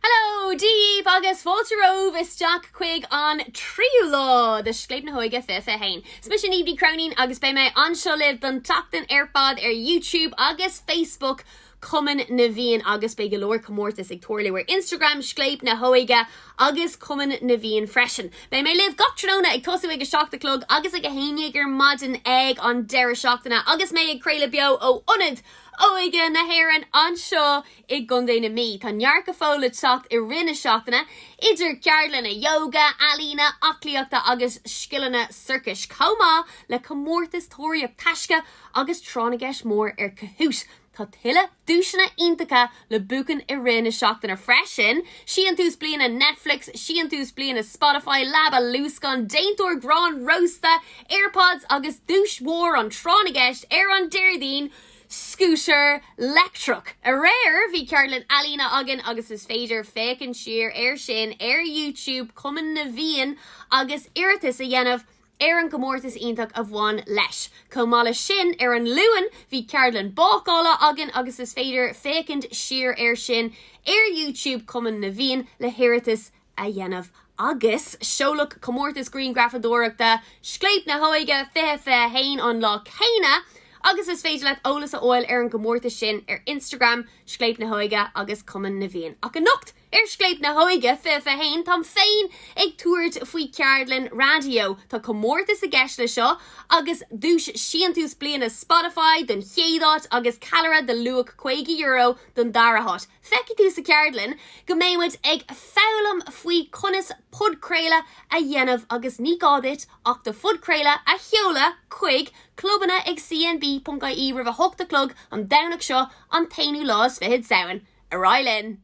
Hello daoibh agus fáilte romhaibh isteach chuig an tríú lá de Scléip na hÓige Fiche Fiche Haon. Is mise Niamh Ní Chróinín agus beidh mé anseo libh don tseachtain ar fad ar YouTube agus Facebook Chumann na bhFiann agus beidh go leor comórtas ag tarlú ar Instagram Scléip na hÓige agus Cumann na bhFiann freisin. Beidh mé libh gach tráthnóna ag tosú ag a seacht a chlog agus ag a haon dhéag ar maidin ag an deireadh seachtaine agus mé ag craoladh beo ó Ionad Óige na hÉireann anseo I gContae na Mí, tá neart go fóill le teacht i rith na seachtaine, idir cheardlanna ióga, ealaíne, aclaíochta agus scileanna sorcais, chomh maith le comórtas tóraíocht taisce agus tráth na gceist mór ar Kahoot! Tá tuilleadh duaiseanna iontacha le buachan i rith na seachtaine freisin, Síntús Bliana Netflix, Síntús Bliana Spotify, Leaba Luascáin, Déantóir Grán Rósta, Airpods agus duais mhór an trátha na gceist ar an Déardaoin, scútar leictreach. Aréir bhí ceardlann ealaíne againn agus is féidir féachaint siar air sin ar YouTube Chumann na bhFiann agus iarratas a dhéanamh ar an gcomórtas iontach a bhain leis. Chomh maith leis sin, ar an Luan bhí ceardlann bácála againn agus is féidir féachaint siar air sin ar YouTube Chumann na bhFiann le hiarratas a dhéanamh agus seoladh comórtas grianghrafadóireachta Scléip na hÓige Fiche Fiche Haon an lá céanna agus is féidir leat eolas a fháil ar an gcomórtas sin ar Instagram Scléip na hÓige agus Cumann na bhFiann. Ach anocht ar Scléip na hÓige Fiche Fiche Haon táim féin ag tabhairt faoi cheardlann raidió. Tá comórtas i gceist le seo agus duais Síntús Bliana Spotify don chéad áit agus Callaire de luach €50 don dara háit. Feicfidh tú sa cheardlann go mbeidh muid ag foghlaim faoi conas podchraoladh a dhéanamh agus ní gá duit ach do phodchraoladh a sheoladh chuig clubanna ag cnb.ie roimh 8 a chlog an Domhnach seo an t-aonú lá is fiche de Samhain. Ar aghaidh linn!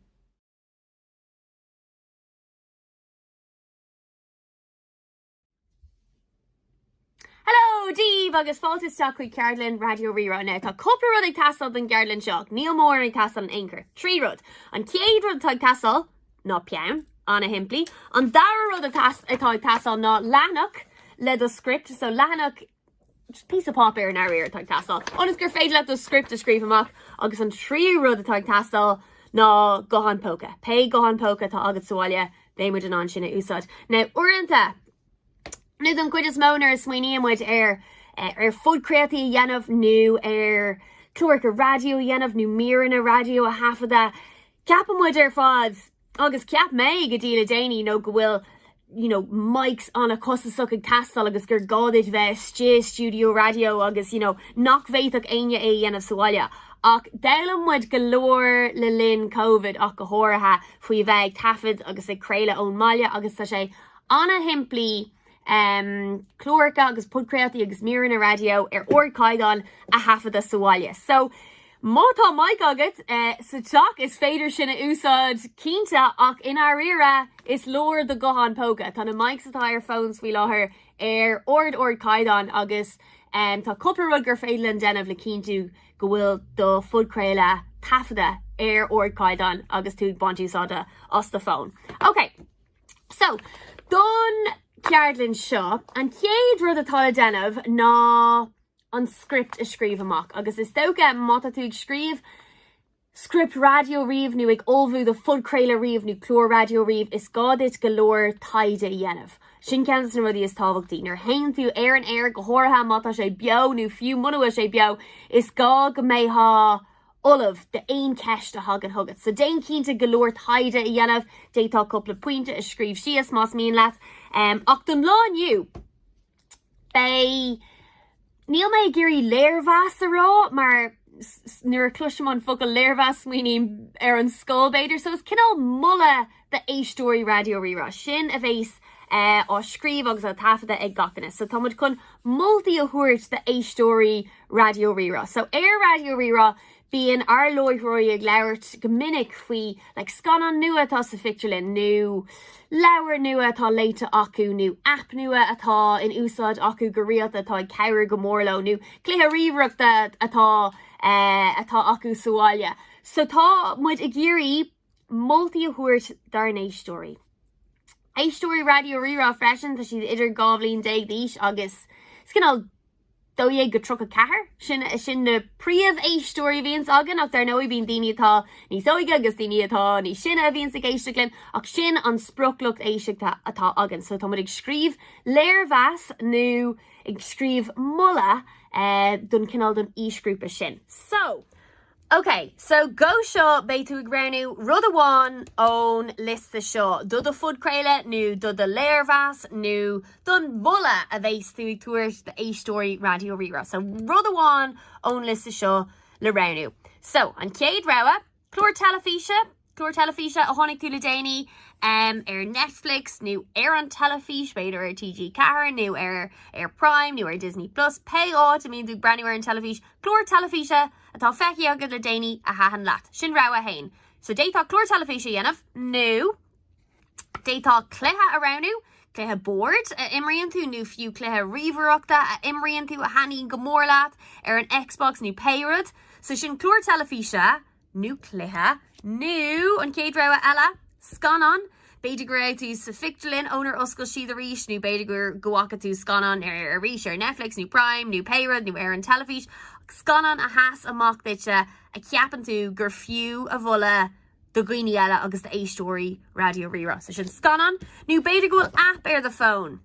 Hello daoibh agus fáilte isteach chuig ceardlann Raidió Rí-Rá now. Tá cúpla rud ag teastáil don gceardlann seo, níl mórán ag teastáil in aon chor. Trí rud. An chéad rud atá ag teastáil ná peann, ana-shimplí. An dara rud atá ag teastáil ná leathanach le do script, so leathanach just píosa páipéir i ndáiríre atá ag teastáil ionas gur féidir leat do script a scríobh amach agus an tríú rud atá ag teastáil ná guthán póca. Pé guthán póca atá agat sa bhaile, beidh muid in ann sin a úsáid. Now, uaireanta, nó don gcuid is mó nuair a smaoiníonn muid ar, eh, ar phodchraoltaí a dhéanamh nó ar chláracha raidió a dhéanamh nó míreanna raidió a thaifeadadh, ceapann muid ar fad, Agus cheap mé go dtí le déanaí nó go bhfuil you know mics an-chostasach ag teastáil agus gur gá duit bheith istigh i stiúideo raidió agus you know nach bhféadfadh éinne é a dhéanamh sa bhaile. Ach d'fhoghlaim muid go leor le linn Covid ach go háirithe faoi bheith ag taifead agus ag craoladh ón mbaile agus tá sé an-shimplí cláracha agus podchraoltaí agus míreanna raidió ar ardchaighdeán a thaifeadadh sa bhaile. So, má tá mic agat sa teach is féidir sin a úsáid, cinnte, ach i ndáiríre is leor do ghuthán póca. Tá na mics atá ar phones faoi láthair ar ard-ardchaighdeán agus tá cúpla rud gur féidir linn déanamh le cinntiú go bhfuil do phodchraoladh taifeadta ar ardchaighdeán agus tú ag baint úsáide as do phone. Okay. So, don cheardlann seo, an chéad rud atá le déanamh ná an script a scríobh amach, agus is dócha má tá tú ag scríobh script raidió riamh nó ag ullmhú do phodchraoladh riamh nó clár raidió riamh, is gá duit go leor taighde a dhéanamh. Sin ceann de na rudaí is tábhachtaí. Nuair a théann tú ar an aer, go háirithe má tá sé beo nó fiú mura bhfuil sé beo, is gá go mbeifeá ullamh d'aon cheist a thagann chugat. So déan cinnte go leor taighde a dhéanamh, d'fhéadfá cúpla pointe a scríobh síos más mian leat. Ach don lá inniu, beidh, níl mé ag iarraidh léirmheas a rá mar nuair a chloisim an focal léirmheas smaoiním ar an scoil b'fhéidir, so is cineál moladh d'éisteoirí Raidió Rí-Rá sin a bheas á scríobh agus á taifeadadh ag gach éinne. So tá muid chun moltaí a thabhairt d'éisteoirí Raidió Rí-Rá. So ar Raidió Rí-Rá bíonn ár láithreoirí ag labhairt go minic faoi like scannán nua atá sa phictiúrlann nó leabhar nua atá léite acu nó aip nua atá in úsáid acu go rialta atá ag cabhrú go mór leo nó cluiche ríomhaireachta atá atá acu sa bhaile. So tá muid ag iarraidh. moltaí a thabhairt dár n-éisteoirí. Éisteoirí Raidió Rí-Rá freisin, tá siad idir dhá bhliain déag d'aois agus is cineál dó dhéag go tríocha ceathair, sin sin na príomhéisteoirí a bhíonns againn ach dar ndóigh bíonn daoine atá níos óige agus daoine atá níos sine a bhíonns ag éisteacht linn ach sin an sprioc lucht éisteachta atá againn. So tá muid ag scríobh léirmheas nó ag scríobh moladh don cineál don aoisghrúpa sin. So! OK, so go seo beidh tú ag roghnú rud amháin ón liosta seo do do phodchraoladh nó do do léirmheas nó don mholadh a bheas tú ag tabhairt d'éisteoirí Raidió Rí-Rá. So rud amháin ón liosta seo le roghnú. So, an chéad rogha, clár teilifíse, Clár teilifíse a chonaic tú le déanaí, ar Netflix nó ar an teilifís, b'fhéidir ar TG4 nó ar ar Prime nó ar Disney Plus, pé áit a mbíonn tú ag breathnú ar an teilifís, clár teilifíse atá feicthe agat le déanaí a thaitin leat. Sin rogha 1. So d'fhéadfá clár teilifís a dhéanamh nó d'fhéadfá cluiche a roghnú, cluiche boird a imríonn tú nó fiú cluiche ríomhaireachta a imríonn tú a thaitníonn go mór leat ar an Xbox nó pé rud. So sin clár teilifíse. nó cluiche, nó an chéad rogha eile, scannán. B'fhéidir go raibh tú sa phictiúrlann ónar oscail siad arís, nó b'fhéidir go bhfaca tú scannán arís ar Netflix nó Prime nó pé rud, nó ar an teilifís, scannán a sheas amach duitse a cheapann tú gur fiú a mholadh do dhaoine eile agus d'éisteoirí Raidió Rí-Rá. So sin scannán. Nó b'fhéidir go bhfuil aip ar do fón.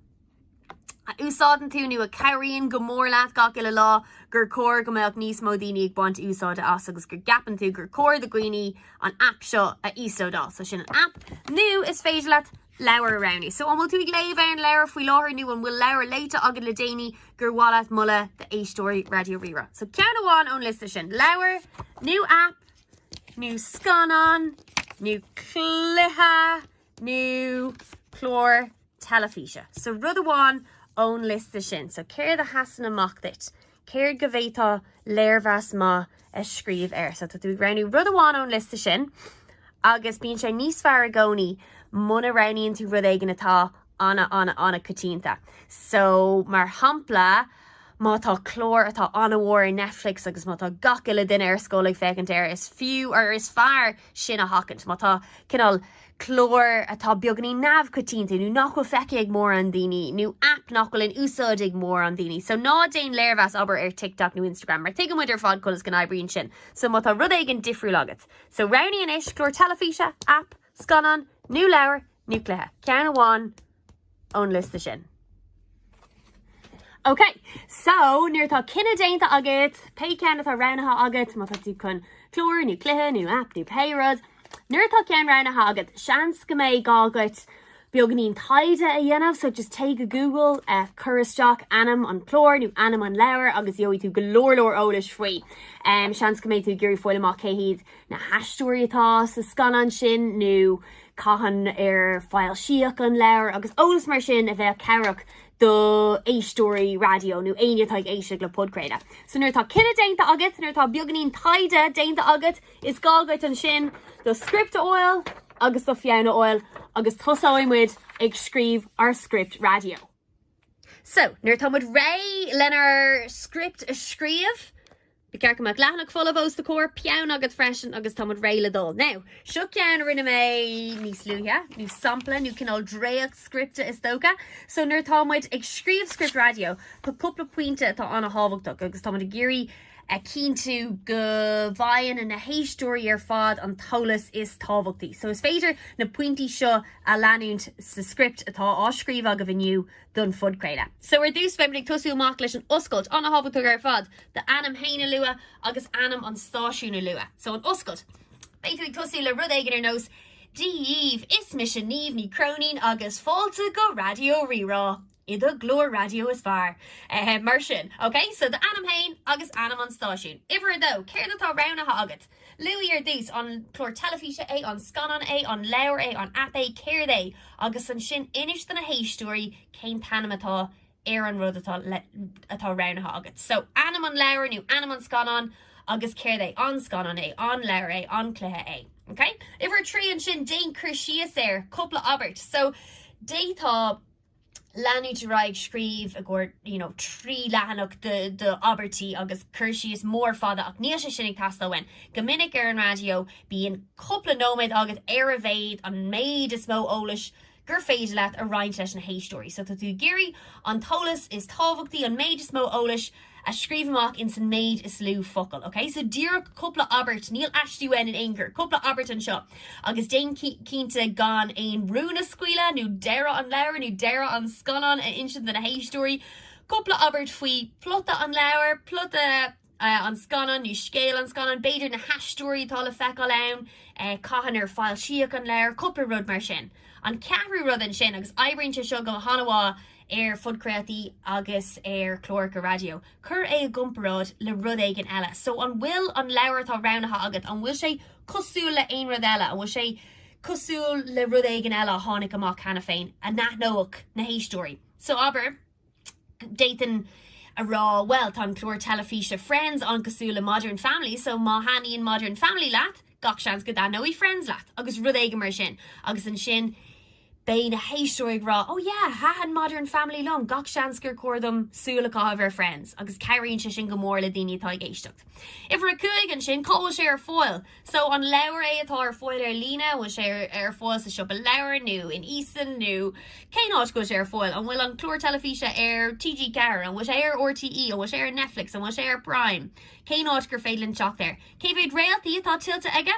a úsáideann tú nó a chabhraíonn go mór leat gach uile lá, gur chóir go mbeadh níos mó daoine ag baint úsáide as agus go gceapann tú gur chóir do dhaoine an aip seo a íoslódáil. So sin an aip. Nó is féidir leat leabhar a roghnú. So an bhfuil tú ag léamh ar an leabhar faoi láthair nó an bhfuil leabhar léite agat le déanaí gur mhaith leat a mholadh d'éisteoirí Raidió Rí-Rá. So ceann amháin ón liosta sin, leabhar, nó aip, nó scannán, nó cluiche, nó clár teilifíse. So rud amháin ón liosta sin. So céard a sheasann amach duit? Céard go bhféadfá léirmheas maith a scríobh air? So tá tú ag roghnú rud amháin ón liosta sin agus bíonn sé níos fearr i gcónaí muna roghnaíonn tú rud éigin atá ana ana ana coitianta. So mar shampla, má tá clár atá ana-mhór ar Netflix agus má tá gach uile duine ar scoil ag féachaint air, is fiú nó is fearr sin a sheachaint. Má tá cineál cláir atá beagainín neamhchoitianta nó nach bhfuil feicthe ag mórán daoine nó aip nach bhfuil in úsáid ag mórán daoine so ná déan léirmheas abair ar TikTok nó Instagram mar tuigeann muid ar fad conas go n-oibríonn sin so má tá rud éigin difriúil agat so roghnaigh anois, clár teilifíse, aip, scannán nó leabhar nó cluiche, ceann amháin. ón liosta sin. OK, so nuair atá cinneadh déanta agat, pé ceann atá roghnaithe agat, má tá tú chun clár nó cluiche nó app nó pé rud, nuair atá ceann roghnaithe agat, seans go mbeidh gá agat beagainín taighde a dhéanamh, so just téigh go Google, cuir isteach ainm an chláir nó ainm an leabhair agus gheobhaidh tú go leor leor eolais faoi. Seans go mbeidh tú ag iarraidh fáil amach cé hiad na haisteoirí atá sa scannán sin nó cathain ar foilsíodh an leabhar agus eolas mar sin a bheadh cabhrach do éisteoirí raidió nó éinne atá ag éisteacht le podchraoladh. So nuair atá cinneadh déanta agat, nuair atá beagainín taighde déanta agat, is gá agat ansin do script a fháil agus do pheann a fháil agus tosóidh muid ag scríobh ár script raidió. So, nuair atá muid réidh lenár script a scríobh, Ba cheart go mbeadh leathanach folamh os do chomhair, peann agat freisin agus tá muid réidh le dul. Now, seo ceann a rinne mé níos luaithe, nó sampla, nó cineál dréacht scripte is dócha. So nuair atá muid ag scríobh script raidió, tá cúpla pointe atá an-tábhachtach agus tá muid ag iarraidh a chinntiú go bhfaigheann na héisteoirí ar fad an t-eolas is tábhachtaí. So is féidir na pointí seo a leanúint sa script atá á scríobh agaibh inniu don phodchraoladh. So ar dtús beimid ag tosú amach leis an oscailt an-thábhachtach ar fad do ainm fhéin a lua agus ainm an stáisiúin a lua. So an oscailt. Beidh tú ag tosú le rud éigin ar nós Dia dhaoibh, is mise Niamh Ní Chróinín agus fáilte go Raidió Rí-Rá, i do ghlór raidió is fearr. Mar sin. Ok, so do ainm fhéin agus ainm an stáisiúin. Uimhir a dó, céard atá roghnaithe agat? Luaigh ar dtús, an clár teilifíse é, an scannán é, an leabhar é, an aip é, céard é? agus ansin inis do na héisteoirí cén t-ainm atá ar an rud atá atá roghnaithe agat. So, ainm an leabhair nó ainm an scannáin agus céard é? An scannán é, an leabhar é, an cluiche é. Okay? Uimhir a trí ansin, déan cur síos air, cúpla abairt. So, d'fhéadfá. leanúint ar aghaidh ag scríobh i gcomhair you know trí leathanach d'abairtí agus cur síos mór fada ach níl sé sin ag teastáil uainn. Go minic ar an raidió bíonn cúpla nóiméad agat ar a mhéad, an méid is mó eolais gur féidir leat a roinnt leis na héisteoirí. So tá tú ag iarraidh an t-eolas is tábhachtaí, an méid is mó eolais, a scríobh amach in san méid is lú focal, ok? So díreach cúpla abairt, níl aiste uainn in aon chor, cúpla abairt anseo agus déan cinnte gan aon rún a scaoileadh nó deireadh an leabhair nó deireadh an scannáin a insint do na héisteoirí. Cúpla abairt faoi plota an leabhair, plota an scannáin nó scéal an scannáin, b'fhéidir na haisteoirí atá le feiceáil ann, cathain ar foilsíodh an leabhar, cúpla rud mar sin. An ceathrú rud ansin, agus oibríonn sé seo go han-mhaith, ar phodchraoltaí agus ar chláracha raidió, cuir é i gcomparáid le rud éigin eile. So, an bhfuil an leabhar atá roghnaithe agat, an bhfuil sé cosúil le haon rud eile? An bhfuil sé cosúil le rud éigin eile a tháinig amach cheana féin a n-aithneodh na héisteoirí? So, abair, d'fhéadfainn a rá, bhuel, tá an clár teilifíse Friends an-cosúil le Modern Family, so má thaitníonn Modern Family leat, gach seans go dtaitneoidh Friends leat, agus rud éigin mar sin. Agus ansin. Beidh na héisteoirí ag rá, Oh yeah, thaitin Modern Family liom, gach seans gur chóir dom súil a chaitheamh ar Friends, agus cabhraíonn sé sin go mór le daoine atá ag éisteacht. Uimhir a cúig, ansin, cá bhfuil sé ar fáil? So, an leabhar é atá ar fáil ar líne? An bhfuil sé ar fáil sa siopa leabhar, nó in Eason, nó cén áit go bhfuil sé ar fáil? An bhfuil an clár teilifíse ar TG4? An bhfuil sé ar RTÉ? An bhfuil sé ar Netflix? An bhfuil sé ar Prime? Cén áit gur féidir linn teacht air? Cé mhéad réaltaí atá tuillte aige?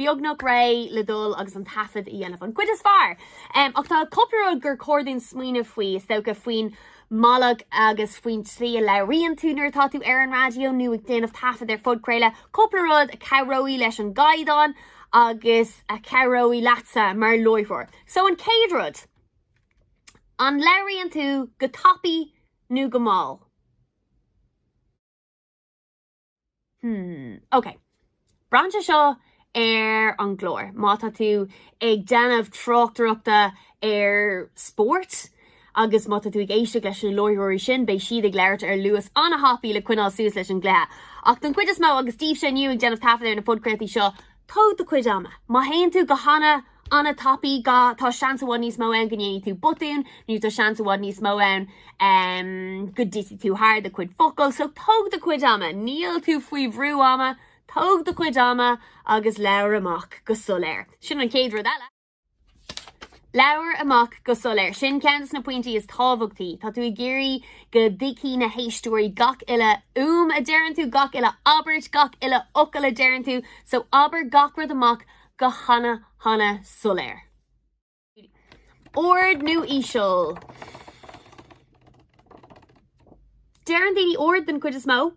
beagnach réidh le dul agus an taifead a dhéanamh, an chuid is fearr! Ach tá cúpla rud gur chóir dúinn smaoineamh faoi, is dócha, faoin mbealach agus faoin tslí a labhraíonn tú nuair atá tú ar an raidió nó ag déanamh taifead ar phodchraoladh, cúpla rud a chabhróidh leis an gcaighdeán agus a chabhróidh leatsa mar láithreoir. So an chéad rud, an labhraíonn tú go tapaidh nó go mall? Hmm, ok. Braitheann sé seo ar an gclár, má tá tú ag déanamh tráchtaireachta ar spórt, agus má tá tú ag éisteach leis na láithreoirí sin, beidh siad ag labhairt ar luas an-thapaidh le coinneáil suas leis an gcluiche. Ach don chuid is mó, agus daoibhse inniu ag déanamh taifead ar na podchraoltaí seo, tóg do chuid ama. Má théann tú go hana. an-tapaidh, ga, Tá seans i bhfad níos mó ann go ndéanfaidh tú botún nó tá seans i bhfad níos mó ann go dtitfidh tú thar do chuid focal, so tóg do chuid ama, níl tú faoi bhrú ama, tóg do chuid ama agus labhair amach go soiléir. Sin an chéad rud eile. Labhair amach go soiléir. Sin ceann de na pointí is tábhachtaí. Tá tú ag iarraidh go dtuigfidh na héisteoirí gach uile fhuaim a deireann tú, gach uile abairt, gach uile fhocal a deireann tú, so abair gach rud amach go hana-hana soiléir. Ard nó íseal? Deireann daoine ard den chuid is mó.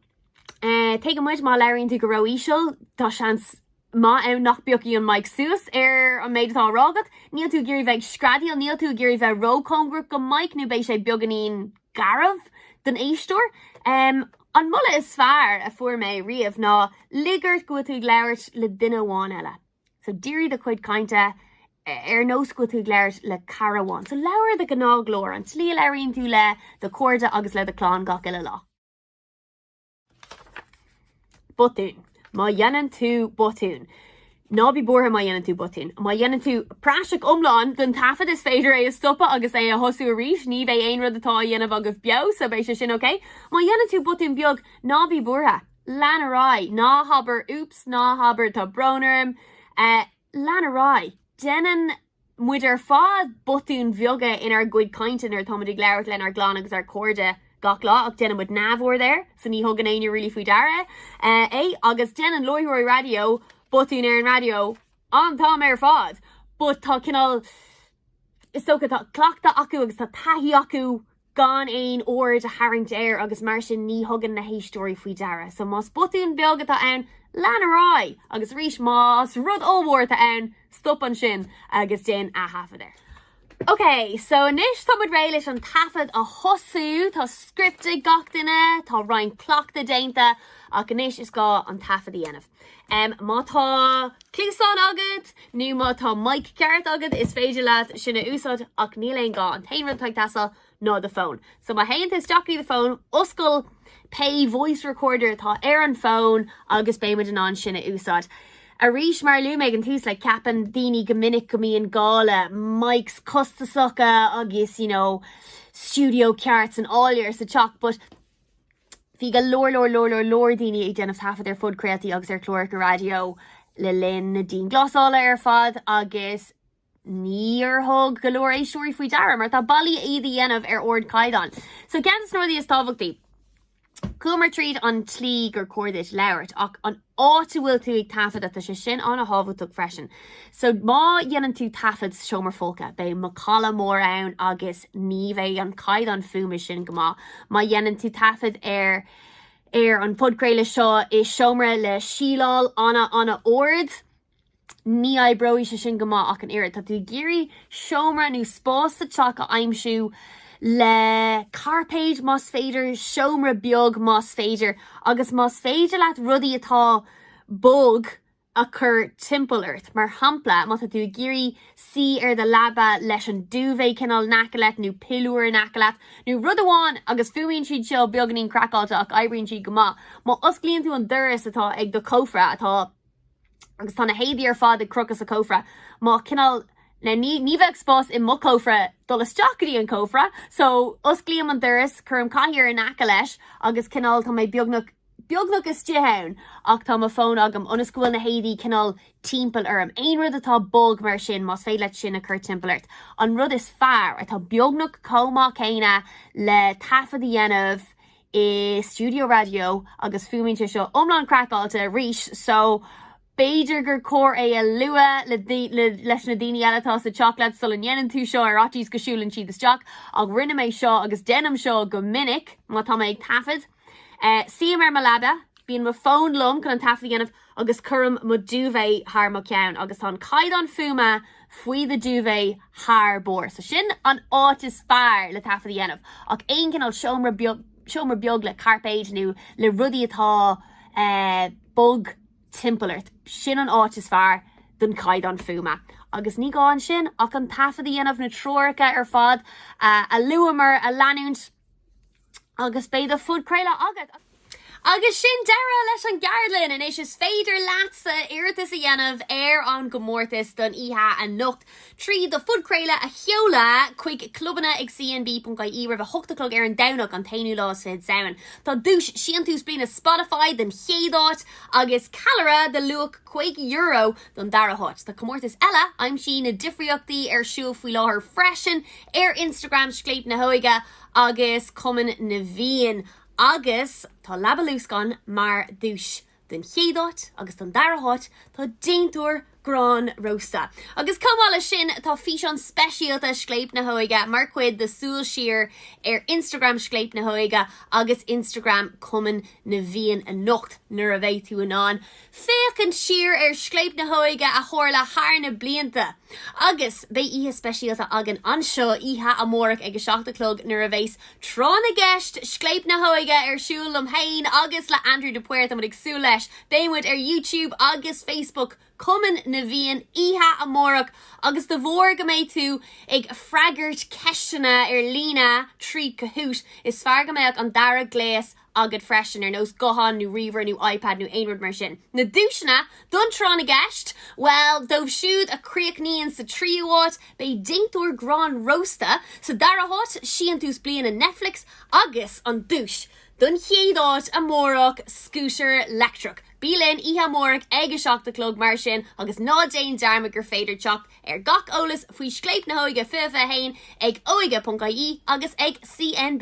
Tuigeann muid má labhraíonn tú go ró-íseal, tá seans maith ann nach bpiocfaidh an mic suas ar an méid atá á rá agat. Níl tú ag iarraidh bheith ag screadaíl, níl tú ag iarraidh bheith ró-chóngarach go mic nó beidh sé beagáinín. garbh don éisteoir. An moladh is fearr a fuair mé riamh ná, lig ort go bhfuil tú ag labhairt le duine amháin eile. So dírigh do chuid cainte ar nós go bhfuil tú ag labhairt le cara amháin. So labhair i do ghnáthghlór, an tslí a labhraíonn tú le do chairde agus le do chlann gach uile lá. botún. Má dhéanann tú botún, ná bí buartha má dhéanann tú botún. Má dhéanann tú praiseach iomlán den taifead, is féidir é a stopadh agus é a thosú arís. Ní bheidh aon rud atá á dhéanamh agaibh beo, so beidh sé sin ok. Má dhéanann tú botún beag, ná bí buartha. Lean ar aghaidh. Ná habair, oops, ná habair, tá brón orm. Lean ar aghaidh. Déanann. muid ar fad botúin bheaga inár gcuid cainte nuair atáimid ag labhairt lenár gclann agus ár gcairde gach lá ach déanann muid neamhaird air so ní thugann éinne really faoi deara é agus déanann láithreoirí raidió botúin ar an raidió an t-am ar fad but tá cineál is dócha tá cleachtadh acu agus tá taithí acu gan aon aird a tharraingt air agus mar sin ní thugann na héisteoirí faoi deara. So más botún beag atá ann, lean ar aghaidh agus arís más rud ollmhór atá ann, stop ansin agus déan ataifead air. Ok, so anois tá muid réidh leis an taifead a thosú, tá script ag gach duine, tá roinnt cleachtadh déanta ach anois is gá an taifead a dhéanamh. Má tá cluasáin agat nó má tá mic ceart agat is féidir leat sin a úsáid ach níl aon gá, an t-aon rud atá ag teastáil ná do phone. So má théann tú isteach i do phone, oscail pé voice recorder atá ar an phone agus beidh muid in ann sin a úsáid. Arís, mar a luaigh mé ag an tús, like ceapann daoine go minic go mbíonn gá le mics costasacha agus you know stiúideo ceart san áiléar sa teach but, Bhí go leor leor leor leor leor daoine ag déanamh taifead ar phodchraoltaí agus ar chláracha raidió le linn na dianghlasála ar fad agus níor thug go leor éisteoirí faoi deara mar tá bealaí iad a dhéanamh ar ardchaighdeán. So ceann de na rudaí is tábhachtaí, chuamar tríd an tslí gur chóir duit labhairt ach an áit a bhfuil tú ag taifeadadh, tá sé sin an-thábhachtach freisin. So má dhéanann tú taifead sa seomra folctha, beidh macalla mór ann agus ní bheidh an caighdeán fuaime sin go maith. Má dhéanann tú taifead ar ar an phodchraoladh seo i seomra le síleáil an-an-ard, Ní oibreoidh sé sin go maith ach an oiread. Tá tú ag iarraidh seomra nó spás sa teach a aimsiú, le cairpéid más féidir, seomra beag más féidir, agus más féidir leat rudaí atá bog a chur timpeall ort. Mar shampla, má tá tú ag iarraidh suí ar do leaba leis an duvet cineál in aice leat, nó piliúir in aice leat, nó rud amháin, agus fuaimíonn siad seo beagainín craiceáilte ach oibríonn siad go maith, má osclaíonn tú an doras atá ag do chófra atá. agus tá na héadaí ar fad ag crochadh sa chófra má cineál ní ní bheadh spás i mo chófra dul isteach go dtí an cófra so osclaím an doras cuirim cathaoir in aice leis agus cineál tá mé beagnach beagnach istigh ann ach tá mo fón agam ionas go bhfuil na héadaí cineál timpeall orm aon rud atá bog mar sin más féidir leat sin a chur timpeall ort an rud is fearr atá beagnach chomh maith céanna le taifead a dhéanamh i stiúideo raidió agus fuaimíonn sé seo iomlán craiceáilte arís so b'fhéidir gur chóir é a lua le leis na daoine eile atá sa teach leat sula ndéanann tú seo ar fhaitíos go siúlann siad isteach ach rinne mé seo agus déanaim seo go minic má tá mé ag taifeadadh suím ar mo leaba bíonn mo fón liom chun an taifead a dhéanamh agus cuirim mo duvet thar mo cheann agus tá an caighdeán fuaime faoi do duvet thar barr so sin an áit is fearr le taifead a dhéanamh ach aon chineál seomra beag le cairpéid nó le rudaí atá eh bog timpeall ort sin an áit is fearr don caighdeán fuaime agus ní gá ansin ach an taifead a dhéanamh na treoracha ar fad a luamar a leanúint. Agus beidh do phodchraoladh agat! Agus sin deireadh leis an gceardlann! Anois is féidir leatsa iarratas a dhéanamh ar an gcomórtas don oíche anocht trí do phodchraoladh a sheoladh chuig clubanna ag cnb.ie roimh a hocht a chlog ar an Domhnach, an t-aonú lá is fiche de Samhain. Tá duais Síntiús Bliana Spotify don chéad áit agus ceallra de luach €50 don dara háit. Tá comórtas eile, Aimsigh na difríochtaí, ar siúl faoi láthair freisin ar Instagram Scléip na hÓige. agus Cumann na bhFiann agus tá Leaba Luascáin mar dhuais don chéad áit agus don dara háit tá déantóir gráin rósta. Agus chomh maith leis sin tá físeán speisialta Scléip na hÓige mar chuid de Súil Siar ar Instagram Scléip na hÓige agus Instagram Cumann na bhFiann anocht nuair a bheidh tú in ann féachaint siar ar Scléip na hÓige a tharla thar na blianta. Agus beidh oíche speisialta againn anseo oíche amárach ag a seacht a chlog nuair a bheas Tráth na gCeist Scléip na hÓige ar siúl liom fhéin agus le Andrew de Paor. Tá muid ag súil leis. Beidh muid ar YouTube agus Facebook Cumann na bhFiann oíche amárach agus de bharr go mbeidh tú ag freagairt ceisteanna ar líne trí Kahoot! is fearr go mbeadh an dara gléas agat freisin, ar nós guthán nó ríomhaire nó iPad nó aon rud mar sin. Na duaiseanna don Tráth na gCeist? Bhuel, dóibh siúd a chríochnaíonn sa tríú háit, beidh déantóir gráin rósta, sa dara háit, síntiús bliana Netflix agus an duais don chéad áit amárach, scútar leictreach. Bí linn oíche amárach ag a seacht a chlog mar sin agus ná déan dearmad gur féidir teacht ar gach eolas faoi Scléip na hÓige 2021 ag óige.ie agus ag CNB.